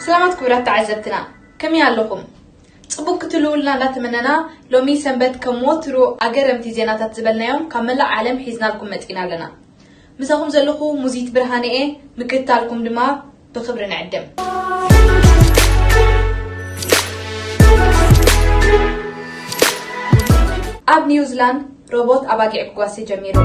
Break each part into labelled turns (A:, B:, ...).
A: ሰላማት ክብራት ተዓዘብትና ከመይ ኣለኹም? ጽቡቅ ክትህልውልና እንዳተመነና ሎሚ ሰንበት ከም ወትሩ ኣገረምቲ ዜናታት ዝበልናዮም ካብ መላእ ዓለም ሒዝናልኩም መጺእና ኣለና። ምሳኹም ዘለኹ ሙዚት ብርሃነ እየ ምክትታልኩም ድማ ብኽብሪ ንዕድም። ኣብ ኒውዝላንድ፣ ሮቦት
B: ኣባጊዕ ክጓሲ ጀሚሩ።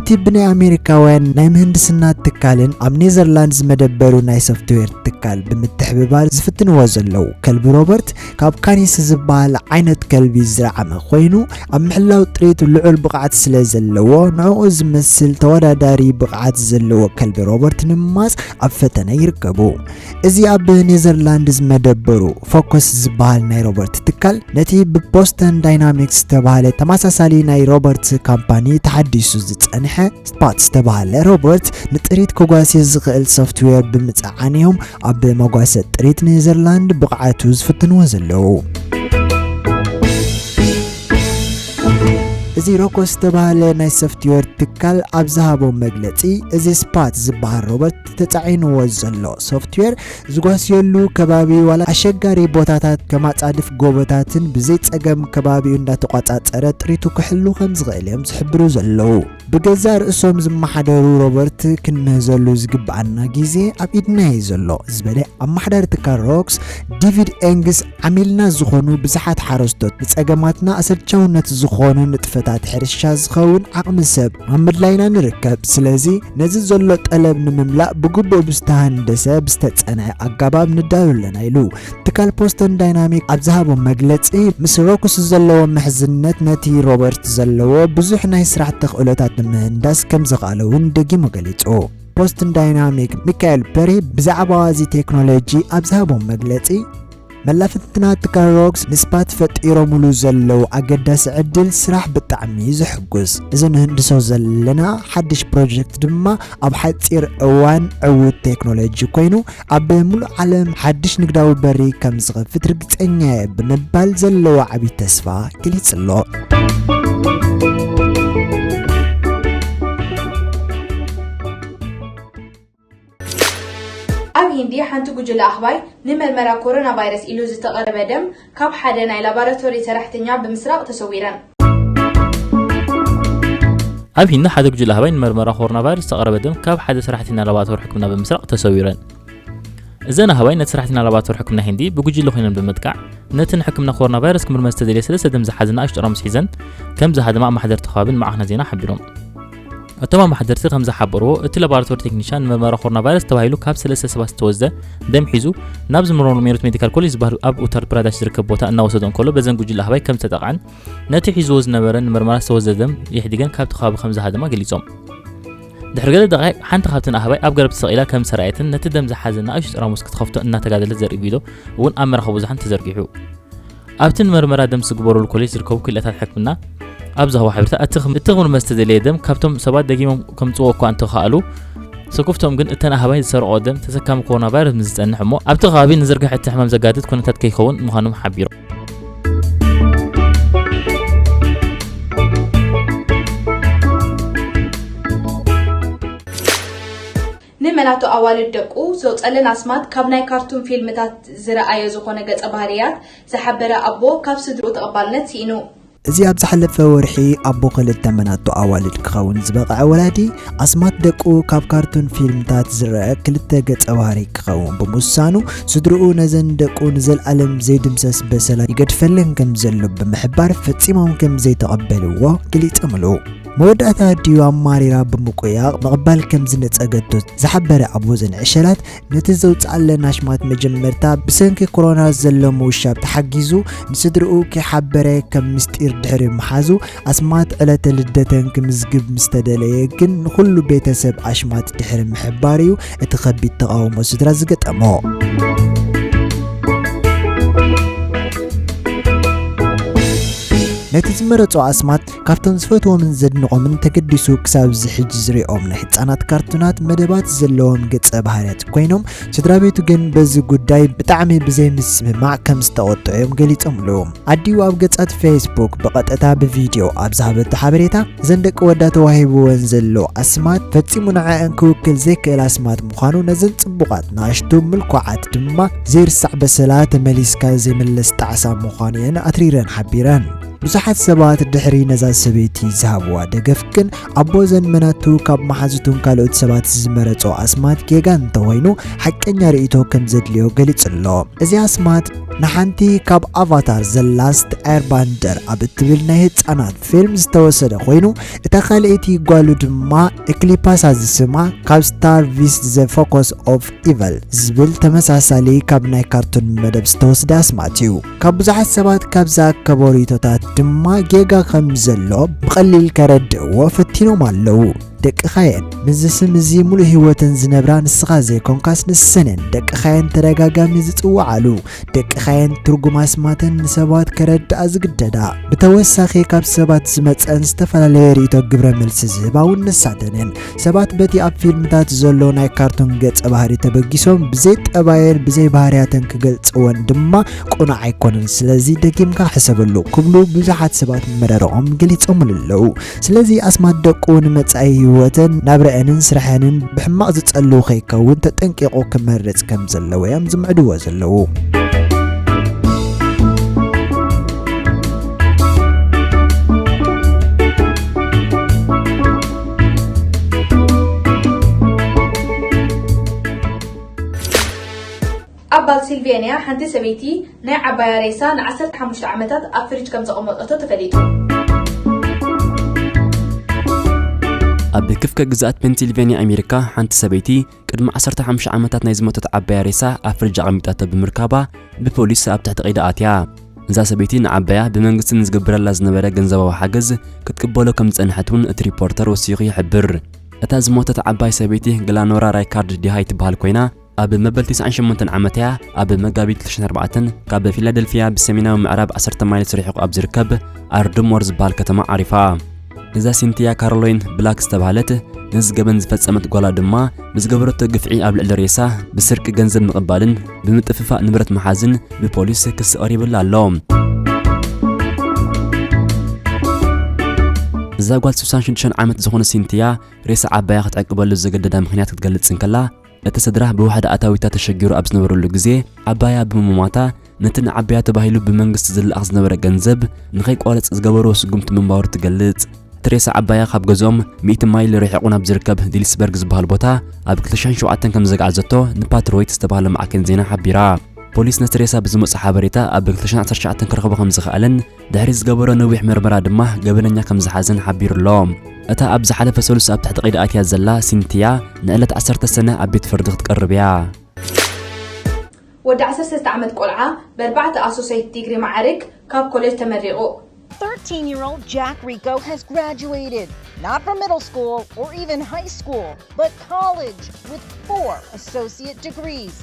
B: እቲ ብናይ ኣሜሪካውያን ናይ ምህንድስና ትካልን ኣብ ኔዘርላንድ ዝመደበሩ ናይ ሶፍትዌር ትካል ብምትሕብባር ዝፍትንዎ ዘለዉ ከልቢ ሮበርት ካብ ካኒስ ዝበሃል ዓይነት ከልቢ ዝረዓመ ኮይኑ ኣብ ምሕላው ጥሪት ልዑል ብቕዓት ስለ ዘለዎ ንዕኡ ዝመስል ተወዳዳሪ ብቕዓት ዘለዎ ከልቢ ሮበርት ንምማፅ ኣብ ፈተነ ይርከቡ። እዚ ኣብ ኔዘርላንድ ዝመደበሩ ፎከስ ዝበሃል ናይ ሮበርት ትካል ነቲ ብቦስተን ዳይናሚክስ ዝተባህለ ተመሳሳሊ ናይ ሮበርት ካምፓኒ ተሓዲሱ ዝጸንሐ ስፓት ዝተባህለ ሮበርት ንጥሪት ከጓሲ ዝኽእል ሶፍትዌር ብምጽዓን እዮም ኣብ መጓሰ ጥሪት ኔዘርላንድ ብቕዓቱ ዝፍትንዎ ዘለዉ። እዚ ሮኮስ ዝተባህለ ናይ ሶፍትዌር ትካል ኣብ ዝሃቦ መግለጺ እዚ ስፓት ዝበሃል ሮበርት ተጻዒንዎ ዘሎ ሶፍትዌር ዝጓስየሉ ከባቢ ዋላ ኣሸጋሪ ቦታታት ከም ኣጻድፍ ጎቦታትን ብዘይ ጸገም ከባቢኡ እንዳተቋጻጸረ ጥሪቱ ክሕሉ ከም ዝኽእል እዮም ዝሕብሩ ዘለዉ። ብገዛእ ርእሶም ዝመሓደሩ ሮበርት ክንምህዘሉ ዝግብኣና ግዜ ኣብ ኢድና እዩ ዘሎ ዝበለ ኣመሓዳሪ ትካል ሮክስ ዲቪድ ኤንግስ ዓሚልና ዝኾኑ ብዝሓት ሓረስቶት ንጸገማትና ኣሰልቻውነት ዝኾኑ ንጥፈታት ሕርሻ ዝኸውን ዓቕሚ ሰብ ኣብ ምድላይ ኢና ንርከብ። ስለዚ ነዚ ዘሎ ጠለብ ንምምላእ ብግቡእ ብዝተሃንደሰ ብዝተጸንዐ ኣጋባብ ንዳሎ ኣለና ኢሉ። ትካል ፖስተን ዳይናሚክ ኣብ ዝሃቦ መግለጺ ምስ ሮክስ ዘለዎ ምሕዝነት ነቲ ሮበርት ዘለዎ ብዙሕ ናይ ስራሕ ተኽእሎታት ንምህንዳስ ከምዘኽኣሎ'ውን ደጊሙ ገሊጹ። ቦስትን ዳይናሚክ ሚካኤል በርሂ ብዛዕባ እዚ ቴክኖሎጂ ኣብ ዝሃቦም መግለጺ መላፍትና ትካል ሮክስ ምስ ባት ፈጢሮምሉ ዘለዉ ኣገዳሲ ዕድል ስራሕ ብጣዕሚ እዩ ዘሕጉስ እዚ ንህንድሶ ዘለና ሓድሽ ፕሮጀክት ድማ ኣብ ሓፂር እዋን ዕዉት ቴክኖሎጂ ኮይኑ ኣብ ሙሉእ ዓለም ሓድሽ ንግዳዊ በሪ ከም ዝኸፍት ርግጸኛ እየ ብምባል ዘለዎ ዓብዪ ተስፋ ገሊጹ ኣሎ። ኣብ
A: ሂንዲ ሓንቲ ጉጅለ ኣህባይ ንመርመራ ኮሮናቫይረስ ኢሉ ዝተቐረበ ደም ካብ ሓደ ናይ ላባራቶሪ ሰራሕተኛ ብምስራቕ
C: ተሰዊረን። ኣብ ሂንዲ ሓደ ጉጅለ ኣህባይ ንመርመራ ኮሮና ቫይረስ ዝተቐረበ ደም ካብ ሓደ ሰራሕተኛ ላባራቶሪ ሕክምና ብምስራቕ ተሰዊረን። እዘን ኣህባይ ነቲ ሰራሕተኛ ላባራቶሪ ሕክምና ሂንዲ ብጉጅለ ኮይነን ብምጥቃዕ ነቲ ንሕክምና ኮሮና ቫይረስ ክምርመር ዝተደልየ ሰለስተ ደም ዝሓዘ ንኣሽቱ ጠራሙስ ሒዘን ከም ዝሃደማ ኣማሓደርቲ ከባቢ ንማዕከናት ዜና ሓቢሮም። እቶም ኣመሓደርቲ ከም ዝሓበርዎ እቲ ላቦራቶሪ ቴክኒሻን ንመርመራ ኮሮና ቫይረስ ተባሂሉ ካብ ሰለስተ ሰባት ዝተወስደ ደም ሒዙ ናብ ዝምርመሩ ሜሮት ሜዲካል ኮሌጅ ዝበሃል ኣብ ኡታር ፕራዳሽ ዝርከብ ቦታ እናወሰዶ እንከሎ በዘን ጉጅለ ኣህባይ ከም ዝተጠቕዐን ነቲ ሒዝዎ ዝነበረ ንመርመራ ዝተወስደ ደም የሕዲገን ካብቲ ከባቢ ከም ዝሃደማ ገሊጾም ድሕሪ ገለ ደቃይቅ ሓንቲ ካብተን ኣህባይ ኣብ ገረብ ተሰቂላ ከም ሰራየትን ነቲ ደም ዝሓዘ ንኣሽቱ ጠራሙስ ክትኸፍቶ እናተጋደለት ዘርኢ ቪድዮ እውን ኣብ መራኸቢ ብዙሓን ተዘርጊሑ ኣብቲ ንመርመራ ደም ዝግበረሉ ኮሌጅ ዝርከቡ ክኢላታት ሕክምና ኣብ ዝሃቦ ሓበሬታ እቲ ክምርመር ዝተደለየ ደም ካብቶም ሰባት ደጊሞም ከምፅዎ እኳ እንተኸኣሉ ስኩፍቶም ግን እተን ኣህባይ ዝሰርቆ ደም ተሰካሚ ኮሮና ቫይረስ ምስ ዝጸንሕ እሞ ኣብቲ ከባቢ ንዝርግሐ እቲ ሕማም ዘጋድድ ኩነታት ከይኸውን ምዃኖም ሓቢሩ
A: ንመላቶ ኣዋልድ ደቁ ዘውጸለን ኣስማት ካብ ናይ ካርቱን ፊልምታት ዝረኣዮ ዝኾነ ገጸ ባህርያት ዝሓበረ ኣቦ ካብ ስድርኡ ተቐባልነት ሲኢኑ። እዚ ኣብ ዝሓለፈ
B: ወርሒ ኣቦ ክልተ መላቶ ኣዋልድ ክኸውን ዝበቐዐ ወላዲ ኣስማት ደቁ ካብ ካርቱን ፊልምታት ዝረኣ ክልተ ገጸ ባህሪ ክኸውን ብምውሳኑ ስድርኡ ነዘን ደቁ ንዘልኣለም ዘይድምሰስ በሰላ ይገድፈለን ከምዘሎ ብምሕባር ፈጺሞም ከምዘይተቐበልዎ ገሊጾምሉ። መወዳእታ ድዩ ኣማሪራ ብምቁያቕ ምቕባል ከም ዝነጸገቶ ዝሓበረ ኣቦዘን ዕሸላት፣ ነቲ ዘውጽኣለን ኣሽማት መጀመርታ ብሰንኪ ኮሮና ዘሎ ምውሻብ ተሓጊዙ ንስድርኡ ከይሓበረ ከም ምስጢር ድሕሪ ምሓዙ፣ ኣስማት ዕለተ ልደተን ክምዝግብ ምስ ተደለየ ግን ንኹሉ ቤተሰብ ኣሽማት ድሕሪ ምሕባር'ዩ እቲ ከቢድ ተቓውሞ ስድራ ዝገጠሞ። ነቲ ዝመረጾ ኣስማት ካብቶም ዝፈትዎምን ዘድንቖምን ተገዲሱ ክሳብ እዚ ሕጂ ዝሪኦም ናይ ህፃናት ካርቱናት መደባት ዘለዎም ገፀ ባህርያት ኮይኖም ስድራ ቤቱ ግን በዚ ጉዳይ ብጣዕሚ ብዘይምስምማዕ ከም ዝተቖጥዑ እዮም ገሊፆምሉ። ኣዲኡ ኣብ ገፃት ፌስቡክ ብቐጥታ ብቪድዮ ኣብ ዝሃበቶ ሓበሬታ እዘን ደቂ ወዳ ተዋሂብወን ዘሎ ኣስማት ፈፂሙ ንዐአን ክውክል ዘይክእል ኣስማት ምዃኑ ነዘን ፅቡቓት ንኣሽቱ ምልኩዓት ድማ ዘይርሳዕ በሰላ ተመሊስካ ዘይምለስ ጣዕሳ ምዃኑ እየን ኣትሪረን ሓቢረን። ብዙሓት ሰባት ድሕሪ ነዛ ሰበይቲ ዝሃብዋ ደገፍ ግን ኣቦ ዘንመናቱ ካብ መሓዙቱን ካልኦት ሰባት ዝመረጾ ኣስማት ጌጋ እንተኾይኑ ሓቀኛ ርእይቶ ከም ዘድልዮ ገሊጹ ኣሎ። እዚ ኣስማት ንሓንቲ ካብ ኣቫታር ዘ ላስት ኤርባንደር ኣብ እትብል ናይ ህጻናት ፊልም ዝተወሰደ ኮይኑ እታ ካልኣይቲ ጓሉ ድማ ኤክሊፓሳ ዝስማ ካብ ስታር ቪስት ዘ ፎኮስ ኦፍ ኢቨል ዝብል ተመሳሳሊ ካብ ናይ ካርቱን መደብ ዝተወስደ ኣስማት እዩ። ካብ ብዙሓት ሰባት ካብ ዝኣከቦ ርእይቶታት ድማ ጌጋ ከም ዘሎ ብቐሊል ከረድእዎ ፈቲኖም ኣለዉ። ደቅኻ'የን ምስዚ ስም እዚ ምሉእ ህይወተን ዝነብራ ንስኻ ዘይኮንካስ ንሰን'የን ደቅኻ'የን ተደጋጋሚ ዝጽውዓሉ። ደቅኻ'የን ትርጉም ኣስማተን ንሰባት ከረድኣ ዝግደዳ። ብተወሳኺ ካብ ሰባት ዝመጸን ዝተፈላለየ ርእይቶ ግብረ መልሲ ዝህባ'ውን ንሳተን'የን። ሰባት በቲ ኣብ ፊልምታት ዘሎ ናይ ካርቱን ገጸ ባህሪ ተበጊሶም ብዘይ ጠባየን ብዘይ ባህርያተን ክገልጽወን ድማ ቁኑዕ ኣይኮነን ስለዚ ደጊምካ ሕሰበሉ ክብሉ ብዙሓት ሰባት መረረኦም ገሊጾምሉ ኣለዉ ስለዚ ኣስማት ደቁ ንመጻኢ ህይወተን ናብረአንን ስራሐንን ብሕማቕ ዝጸልው ከይከውን ተጠንቂቑ ክመርጽ ከም ዘለዎ እዮም ዝምዕድዎ ዘለዉ
A: ኣብ ባልሲልቬንያ ሓንቲ ሰበይቲ ናይ ዓባያ ሬሳ ን15 ዓመታት ኣብ ፍሪጅ ከም ዘቐመጠቶ ተፈሊጡ
D: ኣብ ክፍከ ግዝኣት ፔንሲልቬንያ ኣሜሪካ ሓንቲ ሰበይቲ ቅድሚ ዓሰርተ ሓሙሽተ ዓመታት ናይ ዝሞተት ዓባያ ሬሳ ኣብ ፍርጅ ኣቐሚጣቶ ብምርካባ ብፖሊስ ኣብ ትሕቲ ቀይዲ ኣትያ። እዛ ሰበይቲ ንዓባያ ብመንግስቲ ንዝግብረላ ዝነበረ ገንዘባዊ ሓገዝ ክትቅበሎ ከም ዝጸንሐት እውን እቲ ሪፖርተር ወሲኹ ይሕብር። እታ ዝሞተት ዓባይ ሰበይቲ ግላኖራ ራይካርድ ዲሃይ ትበሃል ኮይና፣ ኣብ መበል ተስዓን ሸሞንተን ዓመት እያ ኣብ መጋቢት ክልተ ሽሕን ኣርባዕተን ካብ ፊላደልፊያ ብሰሜናዊ ምዕራብ ዓሰርተ ማይልስ ርሒቑ ኣብ ዝርከብ ኣርድሞር ዝበሃል ከተማ ዓሪፋ። እዛ ሲንቲያ ካሮሎይን ብላክ ዝተባህለት ነዚ ገበን ዝፈጸመት ጓላ ድማ ብዝገበረቶ ግፍዒ ኣብ ልዕሊ ሬሳ ብስርቂ ገንዘብ ምቕባልን ብምጥፍፋእ ንብረት ምሓዝን ብፖሊስ ክሲ ቀሪብላ ኣሎ። እዛ ጓል 66 ዓመት ዝኾነ ሲንቲያ ሬሳ ዓባያ ክትዕቅበሉ ዘገደዳ ምክንያት ክትገልጽ እንከላ እቲ ስድራ ብዋሕዲ ኣታዊታ ተሸጊሩ ኣብ ዝነበረሉ ግዜ ዓባያ ብምሟታ ነቲ ንዓባያ ተባሂሉ ብመንግስቲ ዝለኣኽ ዝነበረ ገንዘብ ንኸይቋረጽ ዝገበርዎ ስጉምቲ ምንባሩ ትገልጽ። እቲ ሬሳ ዓባያ ካብ ገዝኦም ሚእቲ ማይል ርሒቑ ናብ ዝርከብ ሊልስበርግ ዝበሃል ቦታ ኣብ ክልተ ሽሕን ሸውዓተን ከም ዘግዓዘቶ ንፓትሮይት ዝተባህለ ማዕከን ዜና ሓቢራ። ፖሊስ ነቲ ሬሳ ብዝመጾ ሓበሬታ ኣብ ክልተ ሽሕን ዓሰርተ ትሽዓተን ክረኽቦ ከም ዝኸኣለን ድሕሪ ዝገበሮ ነዊሕ መርመራ ድማ ገበነኛ ከም ዝሓዘን ሓቢሩ ኣሎ። እታ ኣብ ዝሓለፈ ሰሉስ ኣብ ትሕቲ ቀይዲ ኣትያ ዘላ ሲንቲያ ንዕለት ዓሰርተ ሰነ ኣብ ቤት ፍርዲ ክትቀርብ እያ። ወዲ
A: ዓሰርተ ሰለስተ ዓመት ቆልዓ በርባዕተ ኣሶሰይት ዲግሪ መዓርግ ካብ
E: ኮሌጅ ተመሪቑ። 13-year-old Jack Rico has graduated, not from middle school or even high school, but college with four associate
B: degrees.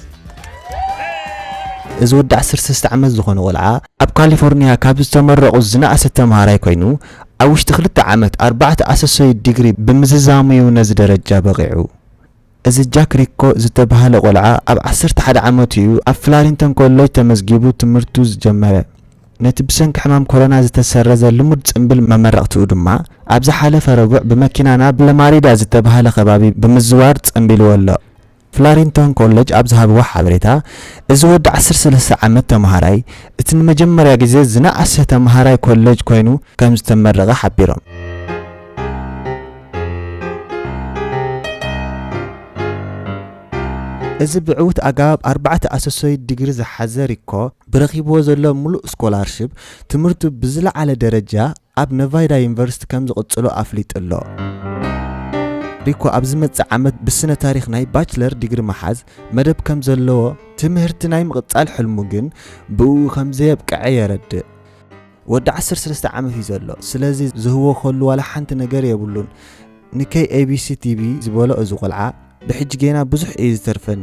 B: እዚ ወዲ ዓሰርተ ሰለስተ ዓመት ዝኾነ ቆልዓ ኣብ ካሊፎርንያ ካብ ዝተመረቑ ዝነኣሰ ተምሃራይ ኮይኑ ኣብ ውሽጢ ክልተ ዓመት ኣርባዕተ ኣሰሶይት ዲግሪ ብምዝዛሙ'ዩ ነዚ ደረጃ በቒዑ። እዚ ጃክ ሪኮ ዝተባህለ ቆልዓ ኣብ ዓሰርተ ሓደ ዓመቱ'ዩ ኣብ ፍላሪንተን ኮለጅ ተመዝጊቡ ትምህርቱ ዝጀመረ። ነቲ ብሰንኪ ሕማም ኮሮና ዝተሰረዘ ልሙድ ጽምብል መመረቕትኡ ድማ፣ ኣብ ዝሓለፈ ረቡዕ ብመኪና ናብ ለማሪዳ ዝተባህለ ከባቢ ብምዝዋር ጸምቢልዎ ኣሎ። ፍላሪንቶን ኮለጅ ኣብ ዝሃብዎ ሓበሬታ፣ እዚ ወዲ ዓሰርተ ሰለስተ ዓመት ተመሃራይ፣ እቲ ንመጀመርያ ግዜ ዝነኣሰ ተመሃራይ ኮለጅ ኮይኑ ከምዝተመረቐ ሓቢሮም። እዚ ብዕዉት ኣገባብ ኣርባዕተ ኣሰሶይት ዲግሪ ዝሓዘ ሪኮ፣ ብረኺብዎ ዘሎ ምሉእ ስኮላርሺፕ ትምህርቱ ብዝለዓለ ደረጃ ኣብ ነቫይዳ ዩኒቨርሲቲ ከም ዝቕጽሎ ኣፍሊጡ'ሎ። ሪኮ ኣብ ዝመጽእ ዓመት ብስነ ታሪኽ ናይ ባችለር ዲግሪ መሓዝ መደብ ከም ዘለዎ፣ ትምህርቲ ናይ ምቕጻል ሕልሙ ግን ብእኡ ከም ዘየብቅዐ የረድእ። ወዲ 13 ዓመት እዩ ዘሎ ስለዚ ዝህቦ ከሉ ዋላ ሓንቲ ነገር የብሉን ንከይ ኤቢሲ ቲቪ ዝበሎ እዚ ቆልዓ ብሕጂ ጌና ብዙሕ እዩ ዝተርፈኒ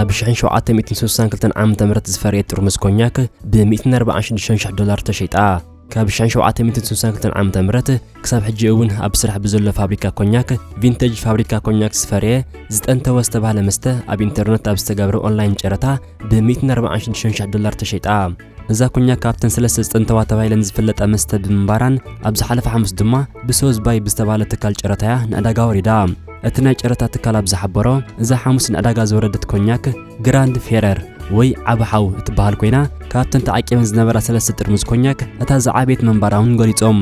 D: ኣብ 1762 ዓ.ም ዝፈረየት ጥርሙዝ ኮኛክ ብ146,000 ዶላር ተሸይጣ። ካብ 1762 ዓ.ም ክሳብ ሕጂ እውን ኣብ ስራሕ ብዘሎ ፋብሪካ ኮኛክ ቪንተጅ ፋብሪካ ኮኛክ ዝፈረየ ዝጠንተወ ዝተባህለ መስተ ኣብ ኢንተርነት ኣብ ዝተገብረ ኦንላይን ጨረታ ብ146,000 ዶላር ተሸይጣ። እዛ ኮኛክ ካብተን ሰለስተ ዝጥንተዋ ተባሂለን ዝፍለጣ መስተ ብምንባራን ኣብ ዝሓለፈ ሓሙስ ድማ ብሶዝባይ ብዝተባህለ ትካል ጨረታያ ንዕዳጋ ወሪዳ። እቲ ናይ ጨረታ ትካል ኣብ ዝሓበሮ፣ እዛ ሓሙስ ንዕዳጋ ዝወረደት ኮኛክ ግራንድ ፌረር ወይ ዓቢ ሓው እትበሃል ኮይና ካብተን ተዓቂበን ዝነበራ ሰለስተ ጥርሙዝ ኮኛክ እታ ዝዓበየት ምንባራ እውን ገሊጾም።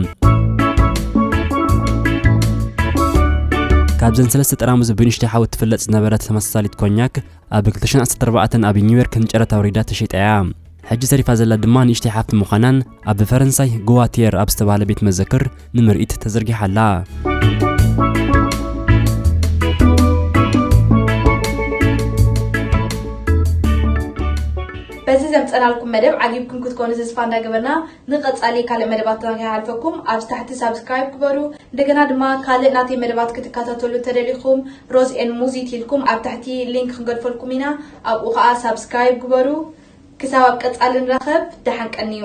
D: ካብዘን ሰለስተ ጠራሙዝ ብንእሽተይ ሓው እትፍለጥ ዝነበረት ተመሳሳሊት ኮኛክ ኣብ ክልተ ሽሕን ዓሰርተ ኣርባዕተን ኣብ ኒውዮርክ ንጨረታ ኣውሪዳ ተሸይጣ እያ። ሕጂ ተሪፋ ዘላ ድማ ንእሽተይ ሓፍቲ ምዃናን ኣብ ፈረንሳይ ጎዋቲየር ኣብ ዝተባህለ ቤት መዘክር ንምርኢት ተዘርጊሓ ኣላ። በዚ
A: ዘምጸናልኩም መደብ ዓጊብኩም ክትኮኑ ተስፋ እንዳገበርና ንቀጻሊ ካልእ መደባትና ከይሓልፈኩም ኣብዚ ታሕቲ ሳብስክራይብ ግበሩ እንደገና ድማ ካልእ ናተይ መደባት ክትከታተሉ ተደሊኹም ሮዝ ኤን ሙዚት ኢልኩም ኣብ ታሕቲ ሊንክ ክንገድፈልኩም ኢና ኣብኡ ከኣ ሳብስክራይብ ግበሩ ክሳብ ኣብ ቀጻሊ ንራኸብ ደሓን ቀንዩ